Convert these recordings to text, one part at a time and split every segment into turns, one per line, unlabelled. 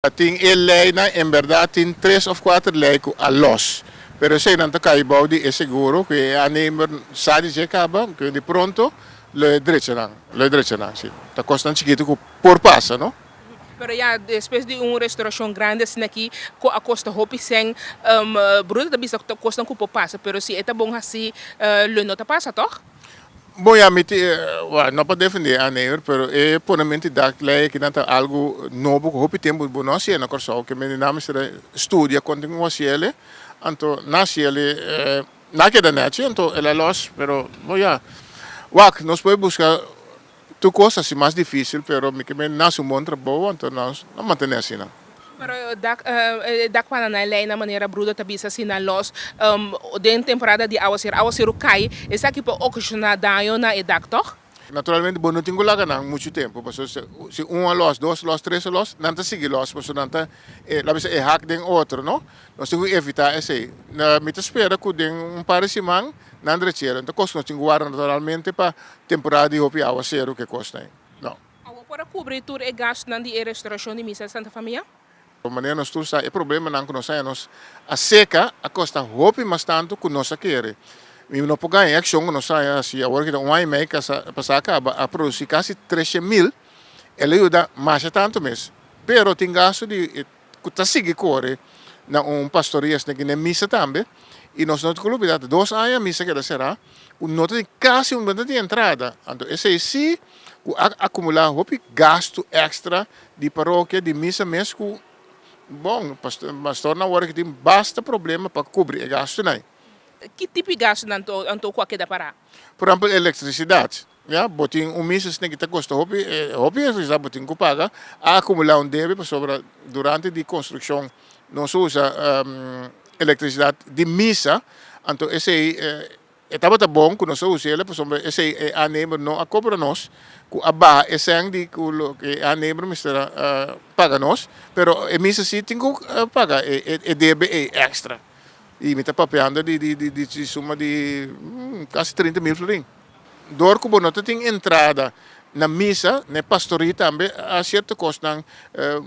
Ta tin e leinan, en berdad tin tres of cuater lei cu a los, pero eseinan ta cay bao di e seguro cu e aannemer sa di dje caba, cu di pronto lo e drechanan, lo e drechanan, si. Ta cosnan chikito cu por pasa, no? Pero ya
despues di un restauracion grandi asina aki, cu a costa hopi cen, bruto ta bisa cu ta cosnan cu por pasa, pero si e ta bon haci, lo no ta pasa, toch? Bon ya mi
tin, wak, no pa defende Aneyur pero e pone menti dak lei aki nan ta algu nobo ku hopi tempu bo no hasié na Kòrsou, ke menti nan mester a studia konta ku hasiele, anto nan hasiele nan a keda nèchi anto el a lòs pero bon ya wak nos por buska Tur cos ta si mas dificil pero mi kiba na su bon trabou anto nos lo mantene asina. Pero dak
e dak pana nan lei na manera brudo ta bisa si nan los den temporada di awaseru awaseru cay esaki por ocasiona daño na e dak toch? Naturalmente bo no tin
cu laga nan mucho tempo pasobra si si un a los dos a los tres a los nan ta sigui los pasobra nan ta e lo bisa e hak den otro no nos tin cu evita esey mi ta spera cu den un par di siman nan drechero e ta kos nos chin guarda naturalmente pa temporada di hopi awaseru ke kos ta. No. Awo por a kubri
tur e gastunan di e restaurashon di Misa di Santa Famia? Bo manera nos
tur sa e problemanan ku nos haña nos a seka a kosta hopi mas tantu ku nos a kere. Mi no por gaña e akshon ku nos haña si awor kita un aña i mei kasa pasa a kaba a produsi kasi treshe mil el a yuda masha tantu mes pero tin gastu di ku ta sigui kore na un pastor i esne kende misa tambe i nos no tin olbida ta dos aña misa keda será ku no ta tin kasi un no ta tin entrada anto esei si ku a akumulá hopi gastu ekstra di parokia di misa mes ku bon pastornan awor a tin basta problema pa kubri e gastunan. Ki tipo di
gastunan anto ku a keda pará? Por ejempel
elektrisidat Ya, bo tin un misa sne'ke ta kosta hopi, e hopi es kisa bo tin ku paga, a akumulá un debe pasobra durante di konstrukshon nos usa elektrisidat di misa, anto esei e tabata bon ku nos a usa ela pasobra esei e aannemer no a kobra nos, ku a baha e sèn di ku loke e aannemer mester a paga nos, pero e misa si tin ku paga e debe ei èkstra, i mi ta papeando di suma di kasi trinta mil florin. Dor ku bo no ta tin entrada na misa, na e pastorie tambe a sierto kosnan,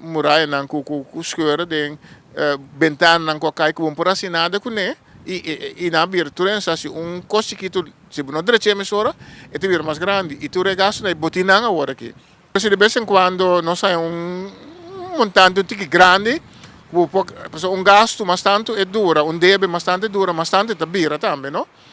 murayanan ku ku skeur den, bentananan ku a kai ku bo no por hasi nada kuné i i nan a bira tur esnan hasi un kos chikitu, si bo no drecha e mesora e ta bira mas grandi i tur e gastunan i botinan awor aki. P'esei di bes en kuando nos haña un montante un tiki grandi ku bo por, pasobra un gastu mas tantu e dura, un debe mas tantu e dura, mas tantu e ta bira tambe, no.